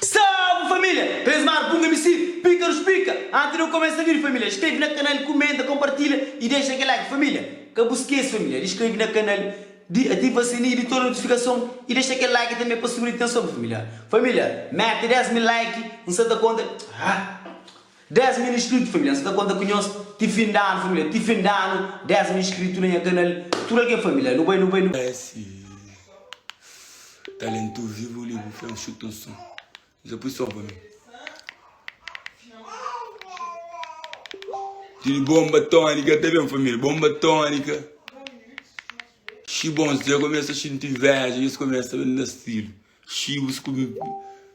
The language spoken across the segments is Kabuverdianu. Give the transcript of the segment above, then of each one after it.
Salve família! Presmar bunga misi pikarus pika anti no kumesa vidi família skrebe na kanal kumenta konpartilha y dexa kel like família ka bu skese família di skrebe na kanal di ativa sininhu di tudu notifikason y dexa kel like tanbe pa subi di tenson família família mete 10 mil like nsa ta konta ah. 10 min inscrito família nsa ta konta ku nhos ti fin di anu família ti fin di anu 10 min inscrito na nha kanal tudo algen família nu bai nu bai nu bai. Esi talentu vivo li bu fla nxuta un son dja pui son pa mi Didi bomba tonika ta ben família bomba tonika xi bons dja kumesa xinti inveja nhos kumesa ben na stilu. Xiu sku mi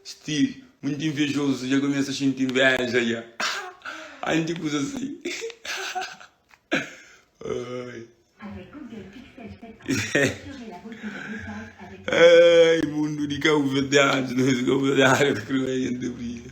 sti munt invejozu dja kumesa xinti inveja dja ai ndi kuza si ai mundu di kauverdianu no es kauverdianu ta kreba jenti brilha.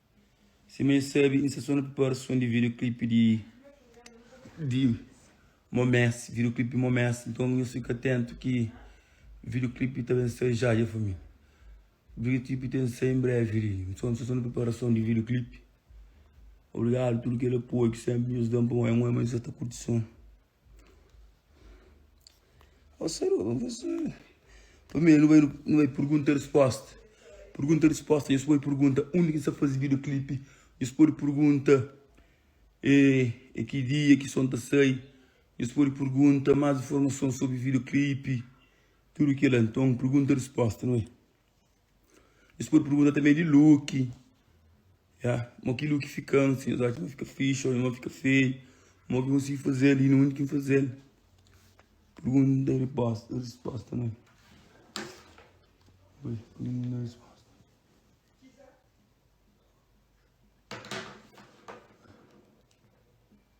Sima e sabe inserson preparason di video clip di di momesi video clip di momesi nton nhos fika atentu ki video clip ta ben sai ja dja família video clip ten sai en breve li inserson inserson di preparason di video clip obrigado tudo kel apoio ki senpri nhos dan pa nho é un onra ma nhos sta kurti son. Ó Seru, nu bai faze. Primeru nu bai nu bai pergunta e resposta. Pergunta e resposta nhos pode pergunta undi ki nu sta faze bidioklipi. Nhos pode pergunta e e ki dia ki son ta sai. Nhos pode pergunta más informason sobri bidioklipi. Tudu kila. Nton pergunta e resposta nu bai. Nhos pode pergunta tanbê di look, ya, Mo ki look fika ansi? Nhos atxa ma fika fixi ô ma fika feio? Mo ki konsigi faze-l i na undi ki N faze-l? Pergunta i ripósta, rispósta, nha. Ui, pudi N da rispósta?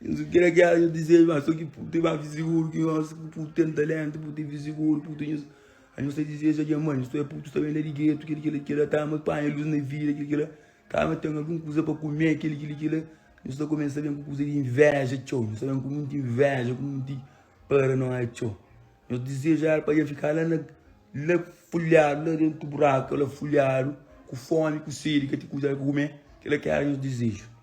Nhos ku kila ki éra nhos dizeju ma so ki Putin ba fi siguru ki nhos ku Putin ten taléntu, Putin fi siguru, Putin nhos a nhos ta dizeju odja ma nhos ta oja Putin sta ben la di getu kila kila kila ta ama panha lus na vida kila kila ta ama ten algun kuza pa kume kila kila kila nhos ta kumesa ben ku kuza di invéja txeu nhos ta ben ku monti invéja ku monti paranoia txeu nhos dizeju éra pa dja fika la na la fulhadu la dentu buraku la fulhadu ku fómi ku sedi ka ten kuza la pa kume kila ki éra nhos dizeju.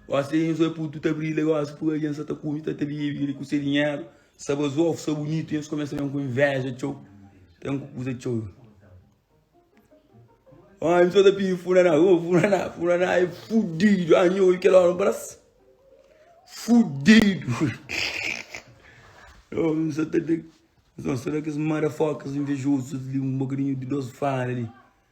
Gosi dja nhos oi putu ta brilha gosi pur algen sa ta kume ta ta bibi li ku se dinheru sa bas ofu sa bunitu nhos kumesa ben ku inveja txeu ben ku kuza txeu oi mi so ta pidi funaná oh funaná funaná é fudidu ah nho oi kel ora bras fudidu oh mi so ta ta mi so ta kes motherfuckers invejosos li um bocadinho de dos fala li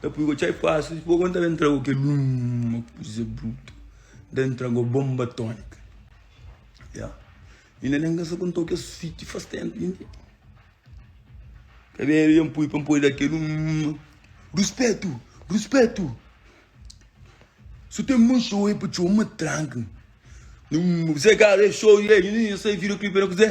Ta pui go txai fásil si bo ka ta entra go kel uma kuza brutu ta entra go bonba tónika ya i na nen ka sa ku nto kes fiti fas ténpu i nte ka ben el ben pui pa npodi da kel uma ruspetu ruspetu su ten mon xou e pa txoma tranka-m na uma kuzé kara e xou i e i na sai vira klipe na kuzé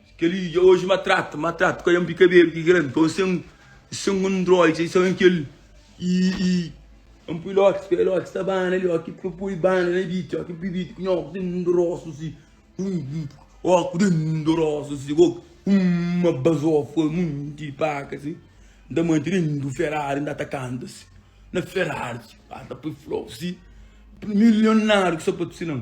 Kel-li dja oji ma trata, ma trata Ka yanpi kabedu ki grandi pa un sen Sen un drol txeu Sen kel i-i N pui lox pa el lox ta bana li Oki pa pui bana na biti Oki pui biti ku nha ox den un dorosu si Hu-u Ox den un dorosu si Ox Hum ma bazofa monti paka si N ta mante den un Ferrari N ta ta kanta si Na Ferrari si Ba ta pui flow si Milionáriu ku sapatu si nan.